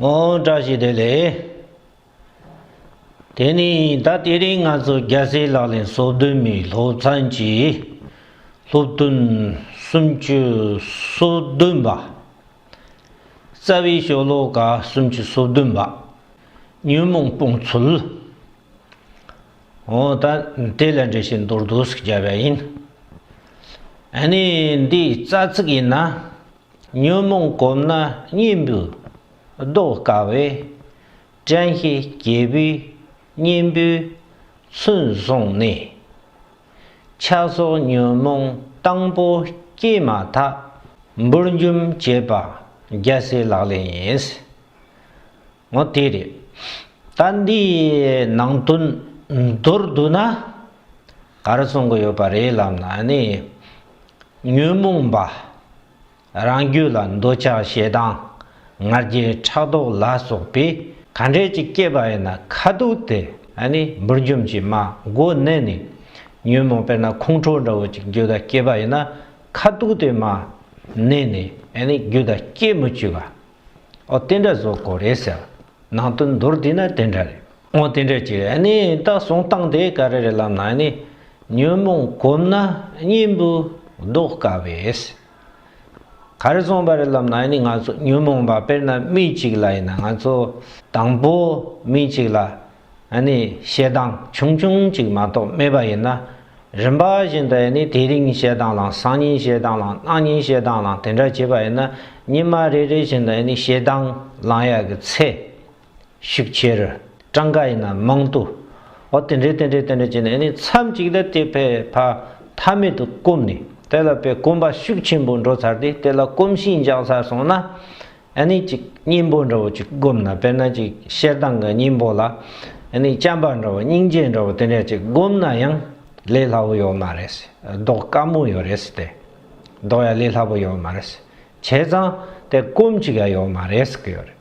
ངོ་བཀྲ་ཤིས་བདེ་ལེགས། དེ་ནས་ད་ལྟའི་རིང་ང་ཚོ་རྒྱལ་སའི་ལག་ལེན་སོ་བདུན་མའི་སློབ་ཚན་གྱི་སློབ་སྟོན་སུམ་ཅུ་སོ་བདུན་པ། རྩ་བའི་ཤོ་ལོ་ཀ་སུམ་ཅུ་སོ་བདུན་པ་ཉོན་མོངས་སྤོང་ཚུལ། འོ་ད་དེ་ལས་འགྲེལ་བཤད་མདོར་བསྡུས་སུ་བྱས་པ་ཡིན། ཨ་ནི་འདིའི་རྩ་ཚིག་ཡིན་ན། ཉོན་མོངས་བསྒོམས་ན་གཉེན་པོས་བཟློག་དཀའ་བས། དྲན་ཤེས་རྒྱལ་པོའི་གཉེན་པོའི་ཚུལ་བཟུང་ནས། ཆགས་སོགས་ཉོན་མོངས་དང་པོ་སྐྱེས་མ་ཐག་འབུར་འཇོམས་བྱེད་པ་རྒྱལ་སྲས་ལག་ལེན་ཡིན། ངོ་དེ་རེད། ད་འདིའི་ནང་དོན་མདོར་བསྡུ་ན། ག་རེ་གསུང་གི་ཡོད་པ་རེད་ལབ་ན་ནི། ཉོན་མོངས་པ་རང་རྒྱུད་ལ་འདོད་ཆགས་ཞེ་སྡང་ང་རྒྱལ་ཕྲག་དོག་ལ་སོགས་པས་ག་འདྲས་ཀྱིས་བསྐྱེད་པ་ཡིན་ན་ཁ་དུག་དེ་འབུར་འཇོམས་ཀྱི་མ་མགོ་བསྣན་ནས་ཉོན་མོངས་དཔེར་ན་ཁོང་ཁྲོ་འདྲ་བོ་ཅིག་རྒྱུད་ལ་བསྐྱེད་པ་ཡིན་ན་ཁ་དུག་དེ་མ་བསྣན་ནས་རྒྱུད་ལ་བསྐྱེད་མི་བཅུག་ག་ཨོ་དེ་འདྲ་བཟོ་དགོས་རེད་ཟེར། ནང་དོན་མདོར་བསྡུས་ན་དེ་འདྲ་རེད། ཨོ་དེ་འདྲ་ཅིག་རེད། ནི་ད་གསུང་སྟངས་དེ་ག་རེ་རེད་ལབ་ན་ནི། ཉོན་མོངས་གོམས་ན་གཉེན་པོ་བཟློག་དཀའ་བས། ག་རེ་གསུངས་པ་རེད་ལབ་ན་ནི་ང་ཚོ་ཉོན་མོངས་པ་དཔེར་ན་མི་གཅིག་ལ་ཡིན་ན་ང་ཚོ། དང་པོ་མི་གཅིག་ལ་ཡང་ནི་ཞེ་སྡང་ཆུང་ཆུང་ཅིག་མ་གཏོགས་སྨྲས་པ་ཡིན་ན། རིམ་པ་བཞིན་དུ་ཡང་ནི་དེ་རིང་ཞེ་སྡང་ལང་སང་ཉིན་ཞེ་སྡང་ལང་གནངས་ཉིན་ཞེ་སྡང་ལང་དེ་འདྲ་བྱེད་པ་ཡིན་ན་ཉི་མ་རེ་རེ་བཞིན་དུ་ཡང་ནི་ཞེ་སྡང་ལང་ཡག་གི་ཚེ། ཤུགས་ཆེ་རུ་གྲངས་ཀ་ཡིན་ན་མང་དུ་འོ་དེ་འདྲས་དེ་འདྲས་དེ་འདྲས་བྱས་ནས་ཡང་ནི་མཚམས་ཅིག་ལ་དེ་ཕས་ཕ་མཐའ་མེད་དུ་བསྐུམས་ནས་དེ་ལ་པའི་བསྐུམ་པ་ཤུགས་ཆེན་པོ་འགྲོ་ཚར་ཏེ་དེ་ལ་བསྐུམས་ཤིང་འཇགས་ཚར་སོང་ན། ཨ་ནི་ཅིག་སྙིང་པོ་འདྲ་བོ་ཅིག་བསྒོམས་ན་དཔེར་ན་ཅིག་ཤེལ་དང་གི་སྙིང་པོ་ལ་ཨ་ནི་སྤྱན་པ་འདྲ་བོ་སྙིང་རྗེ་འདྲ་བོ་དེ་འདྲ་ཅིག་བསྒོམས་ན་ཡང་ལས་སླ་བོ་ཡོད་མ་རེད་ཟློག་དཀའ་མོ་ཡོད་རེད་ཟེར་ཏེ། ཟློག་ཡ་ལས་སླ་བོ་ཡོད་མ་རེད་བྱས་ཙང་དེ་སྐོམ་ཅིག་ཡ་ཡོད་མ་རེད་ཟེར་གི་ཡོད་རེད།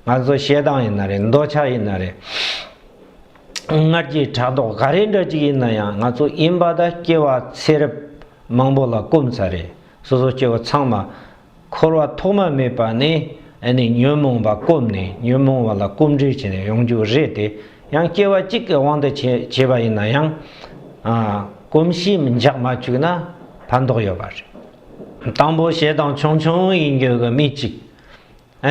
ང་ཚོ་ཞེ་སྡང་ཡིན་ན་རེད་འདོད་ཆགས་ཡིན་ན་རེད། སྔར་གྱི་དྲ་ཟློག་ག་རེ་འདྲ་ཅིག་ཡིན་ན་ཡང་ང་ཚོ་ཡིན་པ་དང་སྐྱེ་བ་ཚེ་རབས་མང་པོ་ལ་སྐོམ་ཚ་རེད་སོ་སོ་སྐྱེ་བོ་ཚང་མ། འཁོར་བ་ཐོག་མ་མེད་པ་ནས་ནི་ཉོན་མོངས་པ་བསྐོམས་ནས་ཉོན་མོངས་བ་ལ་སྐོམ་འདྲུལ་བྱས་ནས་ཡོང་རྒྱུ་རེད་དེ་ཡང་སྐྱེ་བ་གཅིག་གི་དབང་དུ་བྱས་པ་ཡིན་ན་ཡང། གོམས་གཤིས་མི་འཇགས་མ་བཅུག་ན་ཕན་ཐོགས་ཡོད་པ་རེད། དང་པོ་ཞེ་སྡང་ཆུང་ཆུང་ཡིན་རྒྱུ་གི་མི་གཅིག་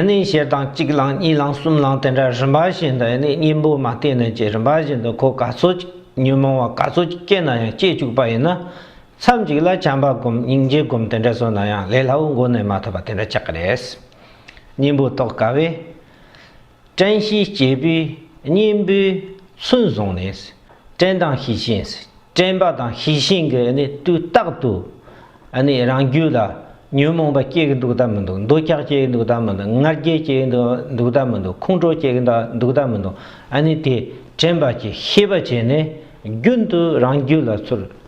ནི་ཞེ་སྡང་གཅིག་བསླངས་གཉིས་བསླངས་གསུམ་བསླངས་དེ་འདྲ་རིམ་པ་བཞིན་དུ་ནི་གཉེན་པོ་མ་བསྟེན་ནས་ཀྱི་རིམ་པ་བཞིན་དུ་འཁོར་ག་ཚོད་ཅིག་ཉོན་མོངས་བ་ག་ཚོད་ཅིག་སྐྱེས་ན་ཡང་སྐྱེས་བཅུག་པ་ཡིན་ན་ཚར་གཅིག་ལ་བྱམས་པ་སྒོམ་སྙིང་རྗེ་སྒོམ་དེ་འདྲ་བཟོ་ན་ཡང་ལས་སླ་བོ་འགོ་ནས་མ་ཐོབ་པ་དེ་འདྲ་ཆགས་ཀྱི་རེད། སྙིང་པོ་རྟོགས་དཀའ་བས། བཀྲེན་ཤིང་སྐྱེས་པས་སྙིང་པོའི་ཚུལ་བཟུང་ནས། བཀྲེན་དང་ཤི་ཤིང། བཀྲེན་པ་དང་ཤི་ཤིང་གི་དུས་རྟག་ཏུ། རང་རྒྱུད་ལ་ཉོན་མོངས་པ་སྐྱེ་གི་འདུག་དམ་མི་འདུག་འདོད་ཆགས་སྐྱེ་གི་འདུག་དམ་མི་འདུག་ངར་སྐད་སྐྱེ་གི་འདུག་དམ་མི་འདུག་ཁོང་ཁྲོ་སྐྱེ་གི་འདུག་དམ་མི་འདུག་དེ་བཀྲེན་པ་གྱི་ཤེས་པ་བྱས་ནས་རྒྱུན་དུ་རང་རྒྱུད་ལ་ཚུར་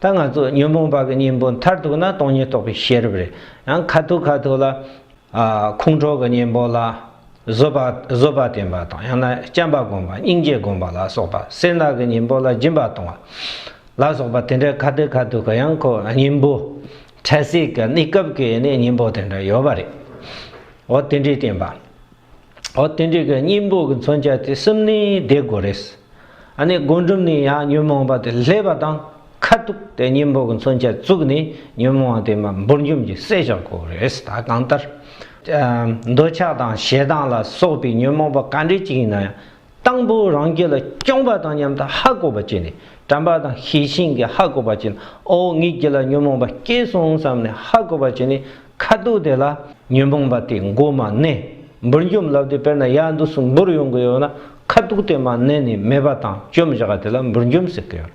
ད་ང་ཚོ་ཉོན་མོངས་པ་གི་གཉེན་པོ་མཐར་གཏུགས་ན་སྟོང་ཉིད་རྟོགས་པའི་ཤེས་རབ་རེད། ཡང་ཁ་ཐུག་ཁ་ཐུག་ལ། ཁོང་ཁྲོ་གི་གཉེན་པོ་ལ། བཟོད་པ་བཟོད་པ་བསྟེན་པ་དང་ཡང་ན་བྱམས་པ་སྒོམ་པ་སྙིང་རྗེ་སྒོམ་པ་ལ་སོགས་པ་སེར་སྣ་གི་གཉེན་པོ་ལ་སྦྱིན་པ་གཏོང་བ། ལ་སོགས་པ་དེ་འདྲའི་ཁ་ཐུག་ཁ་ཐུག་གི་ཡང་ཁོ་གཉེན་པོ། འཕྲལ་སྲིད་ཀྱི་གནས་སྐབས་ཀྱི་ནི་གཉེན་པོ་དེ་འདྲ་ཡོད་པ་རེད། འོ་དེ་འདྲའི་བསྟེན་པ། ཨོ་དེ་འདྲའི་གི་སྙིང་པོ་གི་མཚོན་བྱ་དེ་གསུམ་ནི་བསྡེ་དགོས་རེད། ཨ་ནི་སྒོམ་སྒྲུབ་ནི་ཡང་ཉོན་མོངས་པ་དེ་ལྷས་པ་དང་ཁ་ཐུག་དེ་སྙིང་པོ་གི་མཚོན་བྱ་བཙུགས་ནས་ཉོན་མོངས་བ་དེ་མ་འབུར་འཇོམས་ཀྱི་བསད་བྱ་དགོས་རེད་ད་གང་ལྟར། འདོད་ཆགས་དང་ཞེ་སྡང་ལ་སོགས་པའི་ཉོན་མོངས་པ་ག་འདྲའི་ཅིག་ཡིན་ན་ཡང། དང་པོ་རང་རྒྱལ་ལ་སྐྱོང་པ་དང་མཉམ་དུ་ཧ་གོ་བ་བསྐྱེད་ནས་དྲན་པ་དང་ཤེས་བཞིན་གྱིས་ཧ་གོ་བ་བསྐྱེད་ན་ཨོ་ངེད་ཀྱི་ལ་ཉོན་མོངས་པ་སྐྱེས་སོང་བསམས་ནས་ཧ་གོ་བ་བསྐྱེད་ནས་ཁ་དོག་དེ་ལ། ཉོན་མོངས་པ་དེ་མགོ་མ་གནས་འབུར་འཇོམས་ལབ་དེ་དཔེར་ན་ཡལ་འདུག་སུ་འབུར་ཡོང་གི་ཡོད་ན་ཁ་དོག་དེ་མ་གནས་ནས་མེད་པ་དང་བཅོམ་བཞག་དེ་ལ་འབུར་འཇོམས་ཟེར་གི་ཡོད་རེད།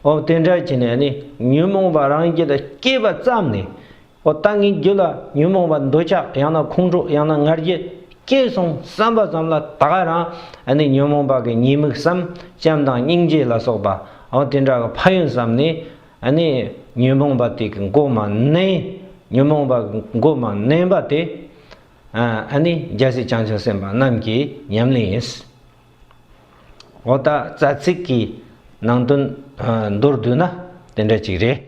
ཨོ་དེ་འདྲ་བྱས་ནས་ནི་ཉོན་མོངས་པ་རང་རྒྱལ་ལ་སྐྱེས་པ་བརྩམས་ནས་འོ་ད་ངའི་རྒྱུད་ལ་ཉོན་མོངས་པ་འདོད་ཆགས་ཡང་ན་ཁོང་ཁྲོ་ཡང་ན་ང་རྒྱལ་སྐྱེས་སོང་བསམ་པ་ཙམ་ལ་ད་ག་རང་ནི་ཉོན་མོངས་པ་གི་ཉེས་དམིགས་སམ་བྱམས་དང་སྙིང་རྗེ་ལ་སོགས་པ་འོ་དེ་འདྲ་གི་ཕ་ཡུལ་ཙམ་ནི་ནི་ཉོན་མོངས་པ་དེ་གི་མགོ་མ་མནན་ཉོན་མོངས་པ་གི་མགོ་མ་མནན་པ་དེ་ནི་རྒྱལ་སྲིད་བྱང་ཆུབ་སེམས་དཔའ་རྣམས་ཀྱི་ཉམས་ལེན་ཡིན། འོ་ད་རྩ་ཚིག་གི་ནང་དོན་མདོར་བསྡུས་ན་དེ་འདྲ་ཅིག་རེད།